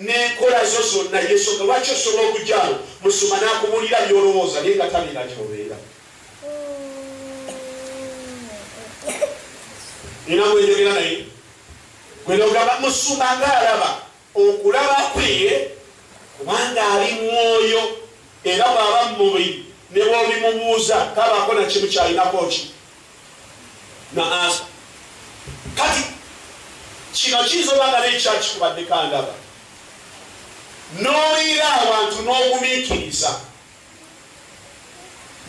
n'enkola zo zonna yesonga lwaki osobola okujyawo musuma n'akubuulira byolowooza naye nga tabira gyobeera nina gwenjogera naye gwenogamba musuma nga alaba okulaba kwe kubanga ali mwoyo era bwaba mumubiri ne bwobimubuuza kabako nakimu kyalinako ki naasa kati kino kiyinza oba nga nekyakikubaddeko andaba n'oliira abantu n'ogumiikiriza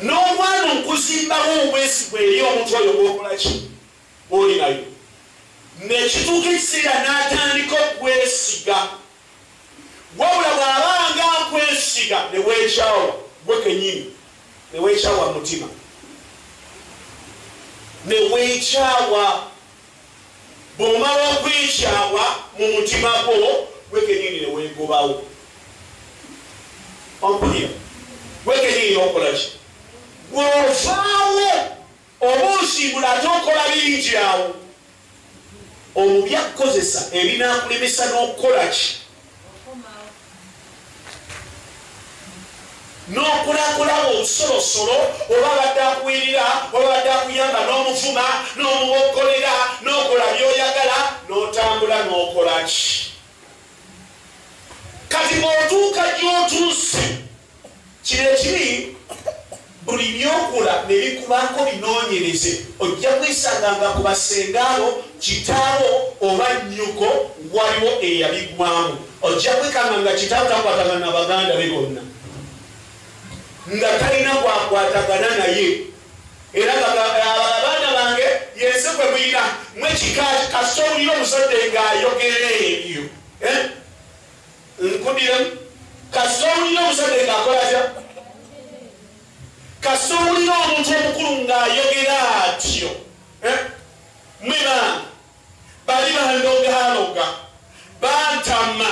n'omwana okuzimbawo obwesigwa eri omuntu oyo gwokolaki oli nayo nekituuka ekiseera n'atandika okwesiga Wabula bw'aba nga akwesiga ne weekyawa ggwe kennyini, ne weekyawa mu mutima, ne weekyawa. Bw'omala okwekyawa mu mutima gwo ggwe kennyini ne weegobawo. Ompulira? Ggwe kennyini n'okola ki? Gw'ovaawo. Oba osiibula ate okola bingi awo omu byakukozesa ebinaakulemesa n'okukola ki n'okulakulaba obusolosolo oba abadde akuwirira oba abadde akuyamba n'omuvuma n'omuboggolera n'okola by'oyagala n'otambula n'okola ki kati bw'otuuka gy'otuuse Kino ekibi buli byokula ne bikubaako binoonyereze, ojja kwisanga nga ku basengaabo, kitaawo oba nnyoko waliwo eyabigwamu. Ojja kwekanga nga kitaawo takwatagana na baganda be bonna, nga talina gwakwatagana naye era abaana bange yensi kwe mulina mwekika kasita owulira omuzadde ng'ayogera ebyo eh? nkudiremu kasita owulira omusajja ngaakola atya kasita owulira omuntu omukulu ng'ayogera atyo eh? mweba bali bandogaloga bantama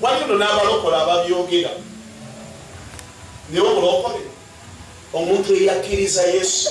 walino n'abalokola ababyogera naye obulokole omuntu eyakkiriza yesu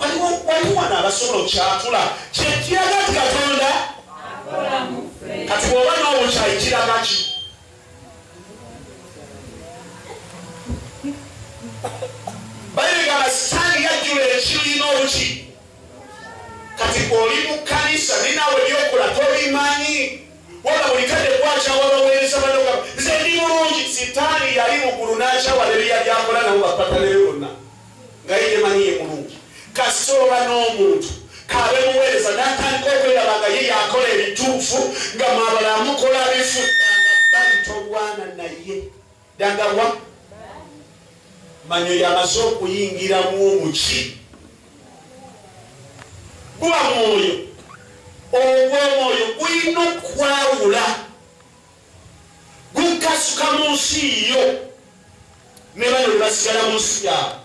waliwo waliwo wano abasobola okyatula kyekiraga nti katonda kati bwoba nawo kyayi kiraga ki bayigamba sitaani yajjula ekibiina obuki kati oli mu kanisa naye nawe byokola tobimanyi waba buli kade gwakyawa baweereza banoga nze ndi mulungi sitaani yali mugulu n'akyawala ebiyali akola nabo bapataleyo bonna nga ye yemanyi ye mulungi kasita oba n'omuntu kaabe muweereza n'atandika okwelaba nga ye yakola ebituufu nga mwabala mukola bifu danga bali tolwana naye danga wa manyo yamaze okuyingiramu omuki guba mwoyo ogw'omwoyo gulina okukwawula gukasuka mu nsi yo ne bano bebasigala mu nsi yaabwe